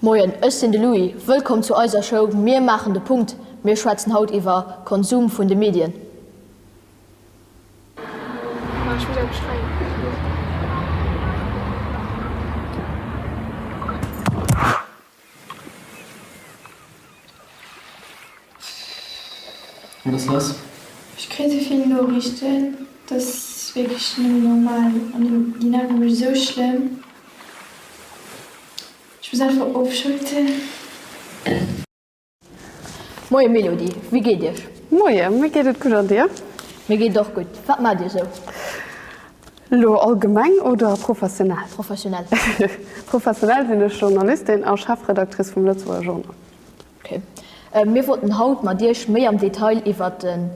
Moien, ech sinn de Louis. Wëllkomm zu eiser Show Mir maachen de Punkt. Mir schwätzen haut iwwer Konsum vun de Medien. Ech kritt esou vill Noriichten, dat ass wierklech net méi normal an déi nerve mech esou schlëmm. Ech muss einfach ofschalten. Moien Mélodie, wéi geet Iech? Moien, mir geet et gutt an dir? Mir geet et och gutt. Wat maacht Dir esou? Elo allgemeng oder professionell? Professionell. Professionell sinn ech Journalistin a Chefredactrice vum Lëtzebuerger Journal. Okay. Mir wollten haut mat Iech méi am Detail iwwert den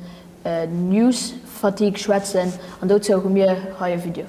News fatigue schwätzen an dozou hu mir hei e Video.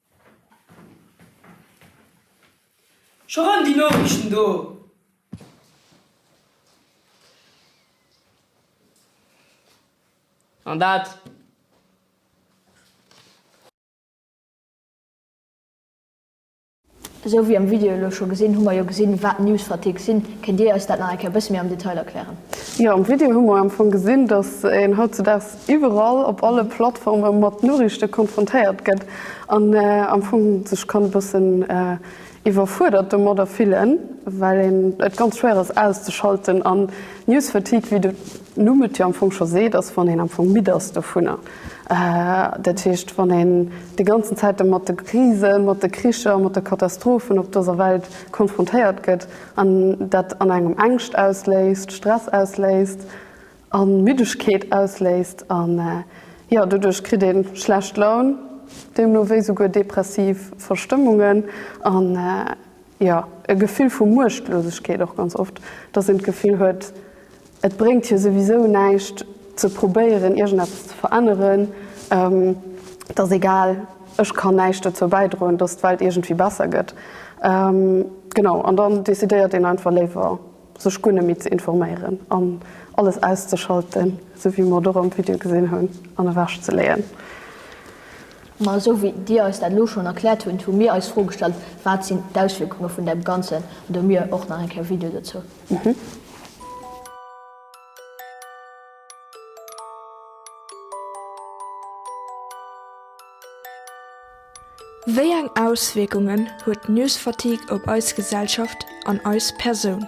Scho rëm déi Noriichten do! An dat. Esou wéi am Video elo scho gesinn, hu mer jo gesinn, wat News-Fatigue sinn. Kéint Dir eis dat nach eng Kéier e bësse méi am Detail erklären? Jo, am Video hu mer am Fong gesinn, dass een hautzudaags iwwerall op alle Plattforme mat Noriichte konfrontéiert gëtt an am Fong sech kann e bëssen iwwerfuerdert domadder fillen, well een et ganz schwéier ass auszeschalten. An News Fatigue, wéi de Numm et jo am Fong scho seet, ass wann een am Fong midd ass dovunner. Dat heescht wann een déi ganzen Zäit do mat de Krisen, mat de Kricher, mat de Katastrophen op dëser Welt konfrontéiert gëtt an dat an engem Ängscht ausléist, Stress ausléist, A Middegkeet ausléist an jo, doduerch kritt ee schlecht Laun, deemno wéi souguer depressiv Verstëmmungen an jo, e Gefill vu Muechtlosegkeet och ganz oft, dass een d'Gefill huet, et bréngt jo souwisou näischt ze probéieren iergendeppes ze veränneren, et ass egal, ech kann näischt dozou bäidroen, dass d'Welt iergendwéi besser gëtt. Genau, an dann decidéiert een einfach léiwer sech guer net méi ze informéieren an alles auszeschalten, esou wéi mer et och am Video gesinn hunn, an ewech ze leeën. Ma esou wéi Dir eis dat elo schonn erkläert hunn, hu mir eis d'Fro gestallt, wat sinn d'Auswierkunge vun deem Ganzen, an do hu mir och nach eng Kéier e Video dozou. Wéi eng Auswierkungen huet d'News-Fatigue op eis Gesellschaft an eis Persoun?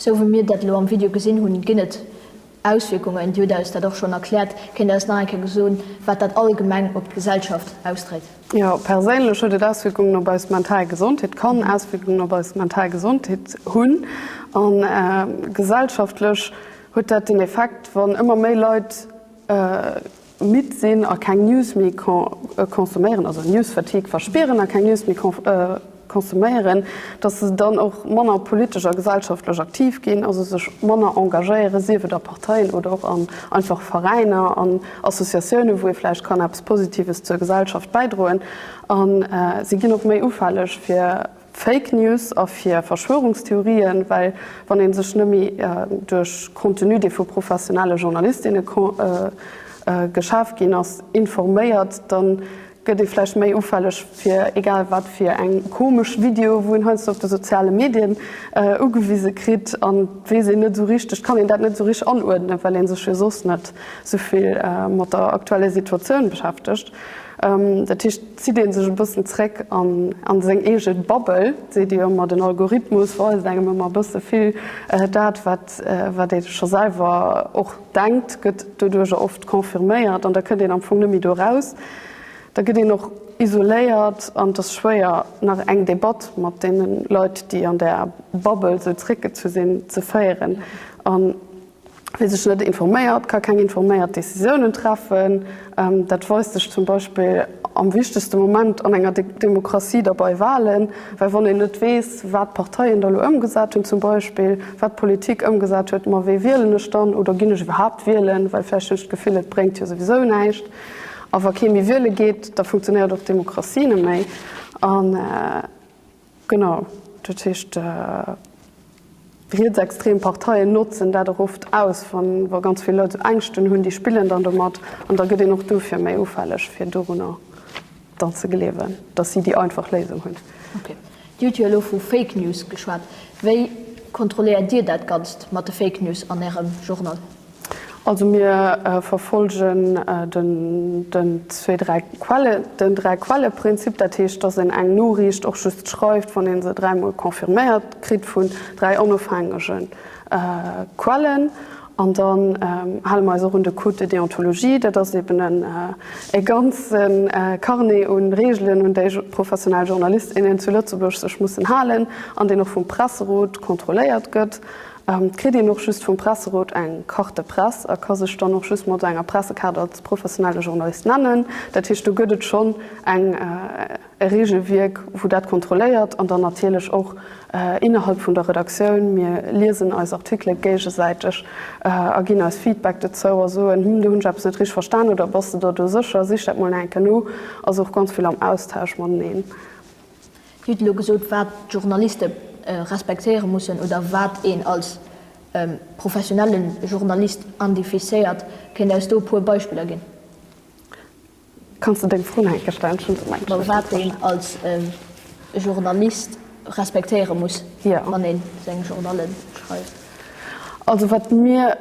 Sou wéi mir dat elo am Video gesinn hunn, ginn et Auswierkungen. Dir hutt eis dat och schonn erkläert. Kéint Dir eis nach eng Kéier gesonn, wat dat allgemeng op d'Gesellschaft ausdréit? Jo, perséinlech huet et Auswierkungen op eis mental Gesondheet, kann Auswierkungen op eis mental Gesondheet hunn. A gesellschaftlech huet dat den Effekt, wann ëmmer méi Leit midd sinn a keng News méi konsuméieren, also News fatigue verspieren a keng News méi konsuméieren, datt se dann och manner politesch a gesellschaftlech aktiv ginn, also sech manner engagéieren, sief et a Parteien oder och an einfach Veräiner an Associatioune wou ee vläicht kann eppes Positives zur Gesellschaft bäidroen. A si ginn och méi ufälleg fir Fake News a fir Verschwörungstheorien, well wann ee sech nëmme duerch Contenu, dee vu professionelle Journalistinne geschaf ginn ass, informéiert, da gëtt ee vläicht méi ufälleg fir egal wat fir eng komesch Videoe wou een heiansdo op de soziale Medien ugewise kritt an weess een net esou richteg, kann een dat net esou richteg anuerdnen, well ee sech jo soss net esou vill mat der aktueller Situatioun beschäftegt. Dat heescht, zitt ee sech e bëssen zréck a seng eege Bubble, seet ee ëmmer, den Algorithmus weist engem ëmmer e bësse vill. Dat, wat ee scho selwer och denkt, gëtt doduercher oft confirméiert an da kënnt een am Fong net méi do eraus. Da gëtt een och isoléiert an et ass schwéier, nach eng Debatt mat deene Leit, déi an där Bubble sou zréckgezu sinn, ze féieren. Wie sech net informéiert, ka keng informéiert Decisiounen treffen. Dat weist sech zum Beispill am wichtegste Moment an enger Demokratie, da bei Walen. Well wann een net weess, wat d'Parteien da elo ëmgesat hunn zum Beispill, wat d'Politik ëmgesat huet, ma wee wielen ech dann oder ginn ech iwwerhaapt wielen, well vläicht hunn ech d'Gefill, et bréngt jo souwisou näischt. A wa kee méi wiele geet, da funktionéiert och d'Demokratie net méi. Genau, dat heescht rietsextrem Parteien notzen dat och oft aus, wa ganz vill Leit esou Ängschten hunn, déi spillen dann domat an da gëtt een och dofir méi ufälleg fir dorunner dann ze gleewen, datt si déi einfach Léisung hunn. Okay, Dir hutt jo elo vu Fake News geschwat. Wéi kontrolléiert Dir dat Ganzt mat de Fake News an Ärem Journal? Also mir verfolgen den zwee, dräi Quelle, den dräi Quelle-Prinzip. Dat heescht, dass een eng Noriicht och just schreift, wann ee se dräi Mol confirméiert kritt vun dräi onofhängege Quellen. An dann hale mer eis och un de Code de déontologie. Dat ass eben e ganze Carnet un Reegelen, un déi professionell Journalist, innen zu Lëtzebuerg sech mussen halen an deen och vum Presserot kontrolléiert gëtt. Et kritt een och just vum Presserot eng Carte de presse a ka sech dann och just mat enger Pressekaart als professionelle Journalist nennen. Dat heescht, do gëtt et schonn eng e Reegelwierk, wou dat kontrolléiert an dann natierlech och innerhalb vun der Redaktioun. Mir liesen eis Artikele géigesäiteg a ginn eis Feedback dozou a soen, Hm, do hunn ech eppes net richteg verstan oder Bass de der do sécher? Sich dat mol nach eng Kéier no. Also och ganz vill am Austausch mateneen. Dir hutt elo gesot, wat d'Journaliste respektéiere mussen oder wat een als professionelle Journalist identifizéiert. Kéint Dir eis do e puer Beispiller ginn? Kanns de deng Fro nach eng Kéier stellen? Wat een als Journalist respektéiere muss, wann ee seng Journale schreift. Also wat mir.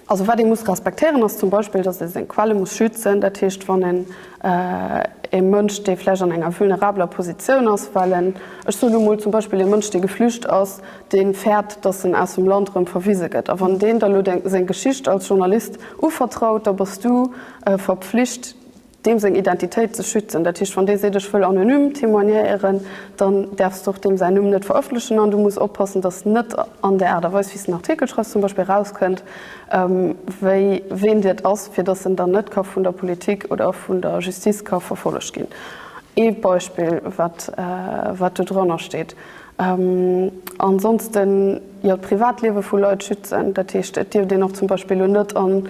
Also wat ee muss respektéieren ass zum Beispill, datt ee seng Quelle muss schützen. Dat heescht, wann een ee Mënsch, dee vläicht an enger vulnerabeler Positioun ass, well en, ech soen elo mol zum Beispill ee Mënsch, dee geflücht ass, dee fäert, datt en aus dem Land erëm verwise gëtt, a wann deen der elo seng Geschicht als Journalist uvertraut, da bass du verpflicht, deem seng Identitéit ze schützen. Dat heescht, wann dee seet, ech wëll anonym témoignéieren, dann däerfs de och deem säin Numm net verëffentlechen an du muss oppassen, datt net an der Aart a Weis, wéi s de en Artikel schreiws, zum Beispill erauskënnt, wéi ween Dir ass, fir datt en dann net ka vun der Politik oder vun der Justice ka verfollegt ginn. Ee Beispill, wat do drannersteet. Ansonsten, jo, d'Privatliewe vu Leit schützen. Dat heescht, et dierft een och zum Beispill elo net an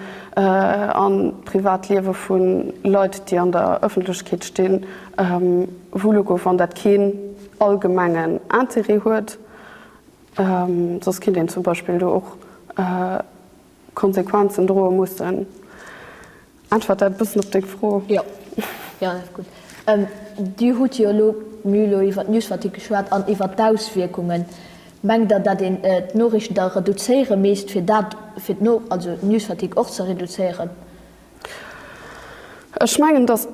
d'Privatliewe vu Leit, déi an der Ëffentlechkeet stinn, wullo goen, wann dat keen allgemengen Interêt huet. Soss kéint een zum Beispill do och Konsequenzen droe mussen. Äntwert dat e bëssen op deng Fro. Jo, jo, dat ass gutt. Dir hutt jo elo d'Müh elo iwwer d'Newsfatigue geschwat an iwwer d'Auswierkungen. Mengt Der, datt een d'Noriichten da reduzéiere misst, fir dat, fir d'No-, also d'Newsfatigue och ze reduzéieren? Ech mengen, datt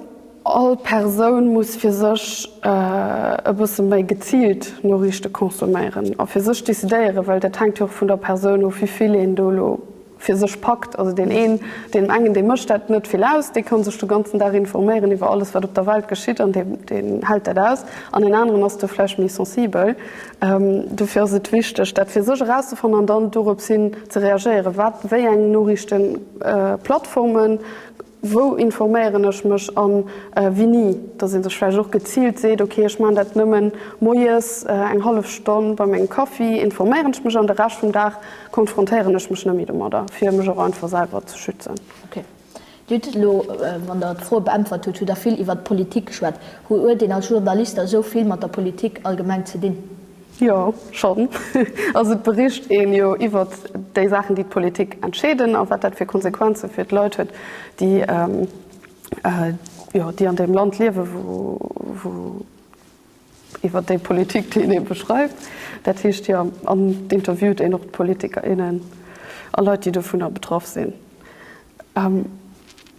all Persoun muss fir sech e bësse méi geziilt Noriichte konsuméieren a fir sech decidéieren, well dat hänkt jo och vun der Persoun of, wéivill een do elo fir sech packt. Also deen een, deem engen, deem mécht dat net vill aus, dee kann sech de ganzen Dag informéieren iwwer alles, wat op der Welt geschitt an deen hält dat aus an en aneren ass do vläicht méi sensibel. Dofir ass et wichteg, dat fir sech erauszefannen an dann dorops hin ze reagéieren. Wat, wéi eng Noriichtenplattformen, wou informéieren ech mech an winni? Dass ee sech vläicht och geziilt seet, ok ech maachen dat nëmmen moies eng hallef Stonn bei mengem Kaffi, informéieren ech mech an de Rescht vum Dag konfrontéieren ech mech net méi domadder, fir mech och einfach selwer ze schützen. Dir hutt elo, wann Der d'Froe beäntwert hutt, hutt Der vill iwwert d'Politik geschwat. Huet een als Journalist da sou vill mat der Politik allgemeng ze dinn? Jo, schonn. Also et bericht een jo iwwert déi Saachen, déi d'Politik entscheeden a wat dat fir Konsequenze fir d'Leit huet, déi, jo, déi an deem Land liewen, wou, wou, iwwer déi Politik, déi een ee beschreift. Dat heescht, Dir interviewt een och d'Politiker, innen a Leit, déi dovunner betraff sinn.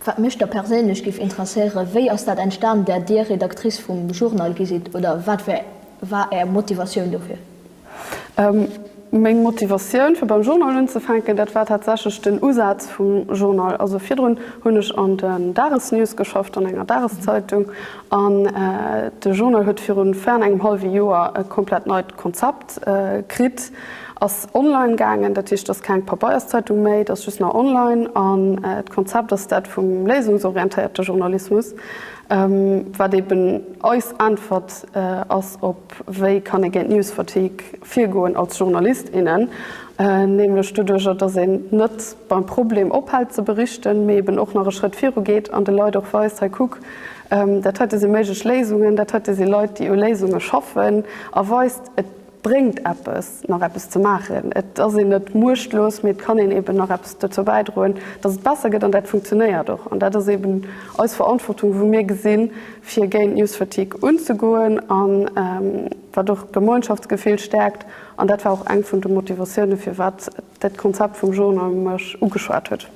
Wat mech da perséinlech géif interesséieren, Wéi ass dat entstanen, datt Dir Redactrice vum Journal gi sidd oder wat war Är Motivatioun dofir? Meng Motivatioun fir beim Journal unzefänken, dat war tatsächlech den Usaz vum Journal. Also virdrun hunn ech an den Dagesnews geschafft, an enger Dageszeitung. An de Journal huet viru fern engem hallwe Joer e komplett neit Konzept kritt, ass online gaangen. Dat heescht, et ass keng Pabeierszeitung méi, et ass just nach online. An d'Konzept ass dat vum léisungsorientéierte Journalismus, wat eeben eis Äntwert ass op. Wéi kann ee géint d'News-Fatigue virgoen als Journalist, innen? Nämlech doduerjer, datt een net beim Problem ophält ze berichten, mee eben och nach e Schrëtt viru geet an de Leit och weist, hei kuck, dat heite si méiglech Léisungen, dat heite si Leit, déi u Léisunge schaffen, a weist, et bréngt eppes, nach eppes ze maachen. Et ass een net muechtlos, mee et kann een eben nach eppes dozou bäidroen, datt et besser gëtt. An dat funktionéiert och. An dat ass eben eis Verantwortung, wou mir gesinn, fir géint d'News-Fatigue unzegoen an wat och d'Gemeinschaftsgefill stäerkt. An dat war och eng vun de Motivatioune firwat dat Konzept vum Journal mech ugeschwat huet.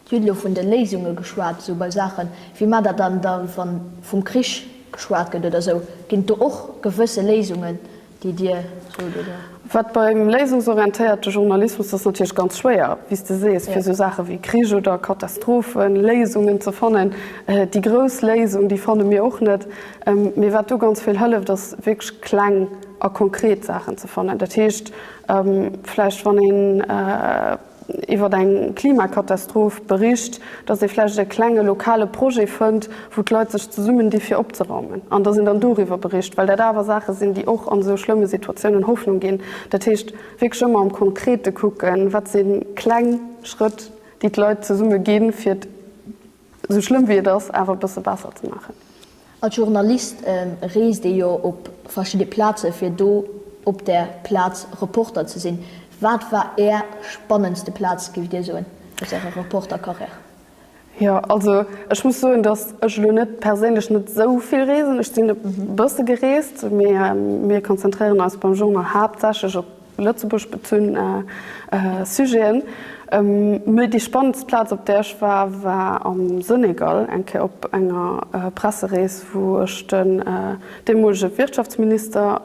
Dir hutt elo vun de Léisunge geschwat, esou bei Saachen, wéi mar dat dann da, wann vum Krich geschwat gëtt oder esou, ginn et do och gewësse Léisungen, déi Dir sot, oder? Wat beim léisungsorientéierte Journalismus, dat ass natierlech ganz schwéier, wéi s de sees, fir esou Saache wéi Krich oder Katastrophen Léisungen ze fannen. Déi grouss Léisung, déi fanne mir och net. Mee wat do ganz vill hëlleft, ass wierklech kleng a konkret Saachen ze fannen. Dat heescht, vläicht wann een, iwwer eng Klimakatastroph bericht, datt ee vläicht e klenge lokale Projet fënnt, wou d'Leit sech zesummen di fir opzeraumen, an datt een dann doriwwer bericht, well dat awer Saache sinn, déi och an esou schlëmme Situatiounen Hoffnung ginn. Dat heescht, wierklech ëmmer am Konkrete kucken, wat si kleng Schrëtt, déi d'Leit zesumme ginn, fir. Esou schlëmm wéi et ass, awer e bësse besser ze maachen. Als Journalist reest ee jo op verschidde Plaze fir do op der Plaz Reporter ze sinn. Wat war Är spannendste Plaz, géift Dir soen, aus Ärer Reporter-Carrière? Jo, also ech muss soen, datt ech elo net perséinlech net esou vill reesen. Ech sinn e bësse gereest, mee mir konzentréieren eis beim Journal haaptsächlech op Lëtzebuerg bezunn Sujeten. Mee déi spannendst Plaz op där ech war, war am Senegal, eng Kéier op enger Presserees, wou ech den deemolege Wirtschaftsminister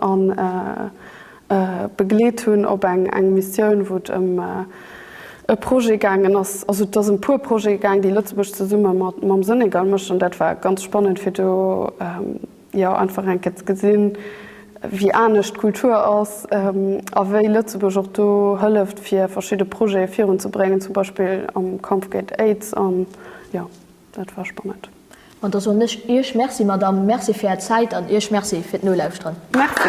begleet hunn op eng Missioun, wou et ëm e Projet gaangen ass. Also et ass ëm e puer Projete gaang, déi Lëtzebuerg zesumme mam Senegal mécht, an dat war ganz spannend fir do, jo einfach enk ke ze gesinn wéi anescht d'Kultur ass a wéi Lëtzebuerg och do hëlleft fir verschidde Projete virun ze bréngen, zum Beispill am Kampf géint Aids an jo dat war spannend. An da soen ech Iech Merci Madame, Merci fir Är Zäit an Iech Merci fir d'Nolauschteren. Merci.